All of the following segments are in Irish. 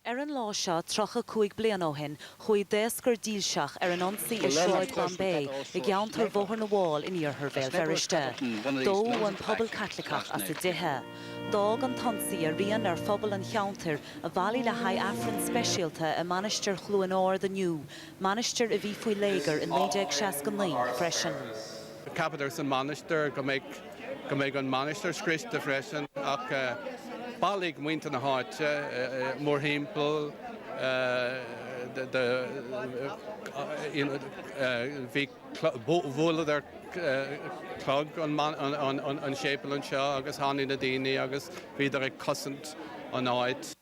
Ar an lá seo 35 bliain ó shin chuaigh daoscar dílseach ar an ionsaí i Sráid Bombay i gceantar Bhóthar na bhFál in iarthar Bhéal Feirste. Dódh an pobal Caitliceach as a dtithe. D'fhág an t-ionsaí a rian ar phobal an cheantair a bhailigh le haghaidh Aifreann speisialta i Mainistir Chluain Ard inniu, mainistir a bhí faoi léigear i 1969 freisin. Ceapadar san Mainistir go mbeadh go mbeadh an Mhainistir scriosta freisin ach bailigh muintir na háite mórthimpeall bhí bhualadar clog an séipéal anseo agus tháinig na daoine agus bhíodar ag cosaint an áit.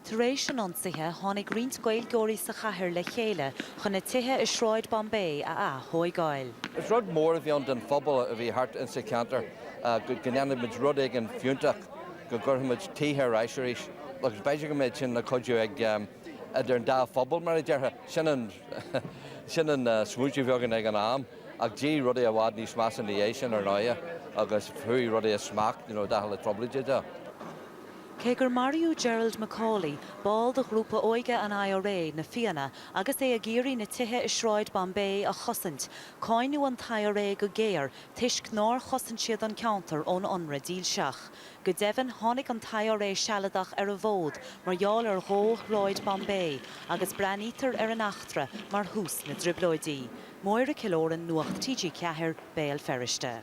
Tar éis an ionsaithe tháinig roinnt Gaeilgeoirí sa chathair le chéile chun na tithe i Sráid Bombay a atógáil. Is rud mór a bhí ann don phobal a bhí thart insa cheantar go ndéanfadh muid rud éigin fiúntach, go gcuirfeadh muid tithe ar ais arís agus b'fhéidir go mbeadh sin ina chuidiú idir an dá phobal mar a déarfá. Sin an sin an smaointiú a bhí againn ag an am ach d'éirigh rudaí i bhfad níos measa ina dhiaidh sin ar ndóighe agus chuaigh rudaí as smacht, you know, d'athraigh na Trioblóidí é. Cé gur maraíodh Gerald McAuley, ball de ghrúpa óige an IRA, Na Fianna, agus é ag iarraidh na tithe i Sráid Bombay a chosaint, cáineadh an t-IRA go géar toisc nár chosain siad an ceantar ón ionradh dílseach. Go deimhin, tháinig an t-IRA Sealadach ar an bhfód mar gheall ar dhó Shráid Bombay, agus breathnaítear ar an eachtra mar thús na dTrioblóidí. Máire Killoran, Nuacht TG4, Béal Feirste.